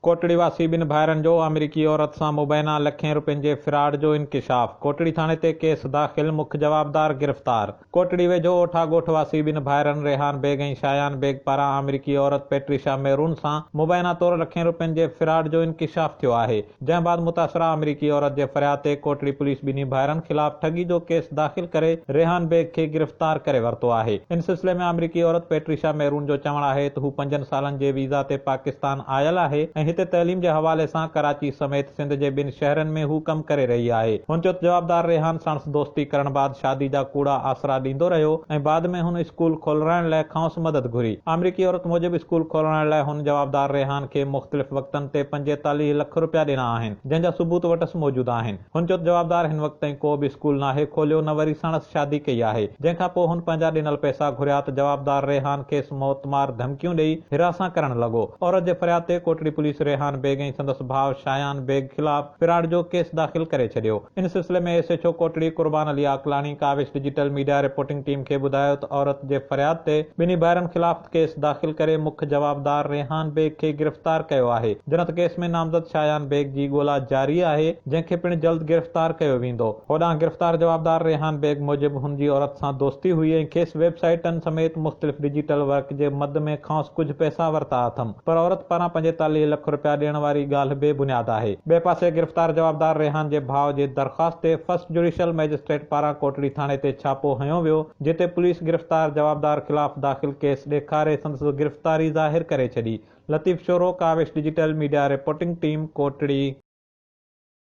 ڪوٽڙي واسي ٻن ڀائرن جو آمريڪي عورت سان مبينا لکين رپين جي فراڊ جو انڪشاف، ڪوٽڙي ٿاڻي تي ڪيس داخل، مک جوابدار گرفتار. ڪوٽڙي ويجهو اوٺا ڳوٺ واسي ٻن ڀائرن ريحان بيگ ۽ شايان بيگ پاران آمريڪي عورت پيٽريشا ميرون سان مبينا طور لکين رپين جي فراڊ جو انڪشاف ٿيو آهي، جنهن بعد متاثره آمريڪي عورت جي فرياد تي ڪوٽڙي پوليس ٻنهي ڀائرن خلاف ٺڳي جو ڪيس داخل ڪري ريحان بيگ کي گرفتار ڪري ورتو آهي، ان سلسلي ۾ آمريڪي عورت پيٽريشا ميرون جو چوڻ آهي ته هو پنجن سالن جي ويزا تي پاڪستان آيل آهي ۽ هتي تعليم جي حوالي سان ڪراچي سميت سنڌ جي ٻن شهرن ۾ هو ڪم ڪري رهي آهي. هن چيو ته جوابدار ريحان ساڻس دوستي ڪرڻ بعد شادي جا ڪوڙا آسرا ڏيندو رهيو ۽ بعد ۾ هن اسڪول کولرائڻ لئه کانئس مدد گهري. آمريڪي عورت موجب اسڪول کولرائڻ لئه هن جوابدار ريحان کي مختلف وقتن تي پنجيتاليهه لک روپيا ڏنا آهن جنهن جا ثبوت وٽس موجود آهن. هن چيو ته جوابدار هن وقت تائين ڪو به اسڪول ناهي کوليو نه وري سڻس شادي ڪئي آهي جنهن کان پوء هن پنهنجا ڏنل پئسا گهريا ته جوابدار ريحان کيس موت مار ڌمڪيون ڏئي هراسان ڪرڻ لڳو عورت جي فرياد تي ڪوٽڙي پوليس ريحان بيگ ۽ سندس ڀاء شايان بيگ خلاف فراڊ جو ڪيس داخل ڪري ڇڏيو ان سلسلي ۾ S H O Kotri Qurban Ali Aqlani Kawish digital media reporting team کي ٻڌايو ته عورت جي فرياد تي ٻنهي ڀائرن خلاف ڪيس داخل ڪري مک جوابدار ريحان بيگ کي گرفتار ڪيو آهي جنت ڪيس ۾ نامزد شايان بيگ جي ڳولا جاري آهي جنهن کي پڻ جلد گرفتار ڪيو ويندو هوڏانهن گرفتار جوابدار ريحان بيگ موجب هن جي عورت سان دوستي هئي ۽ کيس ويب سائيٽن سميت مختلف ڊجيٽل ورڪ جي مد ۾ کانئس ڪجهه پئسا ورتا اٿم پر عورت پاران پنجيتاليهه لک رپيا ڏيڻ واري ڳالهه بي بنياد آهي ٻئي پاسي گرفتار جوابدار ريحان جي ڀاء جي درخواست تي فرسٽ جوڊيشل مئجسٽريٽ پاران ڪوٽڙي ٿاڻي تي ڇاپو هنيو ويو جتي پوليس گرفتار جوابدار خلاف داخل ڪيس ڏيکاري سندس گرفتاري ظاهر ڪري ڇڏي. Latif Shoro, Kawish digital media reporting team, Kotri.